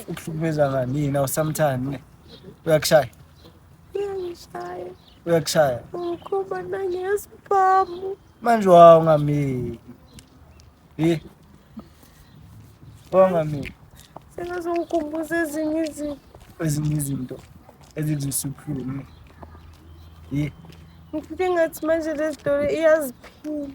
ukuhlukumeza ngani na usamthani uyakushaya uyangishaya uyakushaya ukhomba nangesibhamu manje wawu ngamiki ye wangamiki sengazokukhumbuza ezinye izinto ezinye izinto ezizisukhulu ye ngifike ngathi manje lezi dolo iyaziphila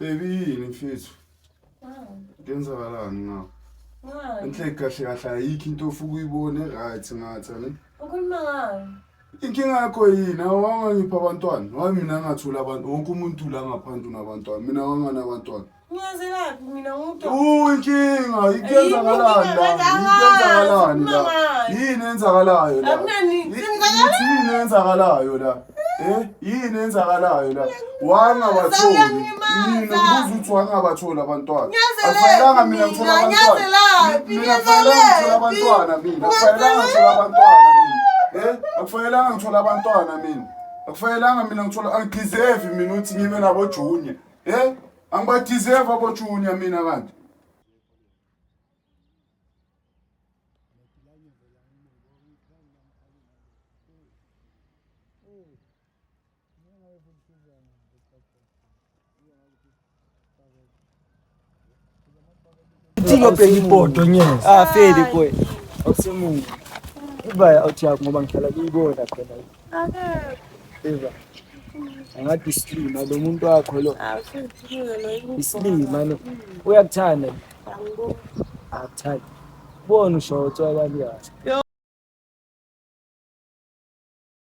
Baby yini mfethu? Ngenzakalani na? Inhle kahle kahle ayikho into ofuka uyibone right ngathi ne. Ukhuluma ngani? Inkinga yakho yini? Awangangipha abantwana. Wayi mina ngathula abantu. Wonke umuntu la ngaphandle unabantwana. Mina wangana abantwana. Ngiyazelaphi mina umuntu. Oh inkinga ikenzakalani la? Ikenzakalani la? Yini enzakalayo la? Akunani. Yini enzakalayo la? Eh, yini enzakalayo la? Wangabatholi. Yini ubuza ukuthi wangabatholi abantwana? Akufanelanga mina ngithola abantwana. Mina kufanelanga ngithola abantwana mina. Akufanelanga ngithola abantwana mina. Eh, akufanelanga ngithola abantwana mina. Akufanelanga mina ngithola angideserve mina ukuthi ngibe nabo junior. Eh, angibadeserve abo junior mina kanti. Singabheki ipoto nye. Ah feli boy. Awusemuntu. Ubaya awuthi yakho ngoba ngihlala kuyibona khona. Akekho. Eva. Angathi isilima lo muntu wakho lo. Awusemuntu lo. Isilima lo. Uyakuthanda. Athai. Bonu show to abali ya.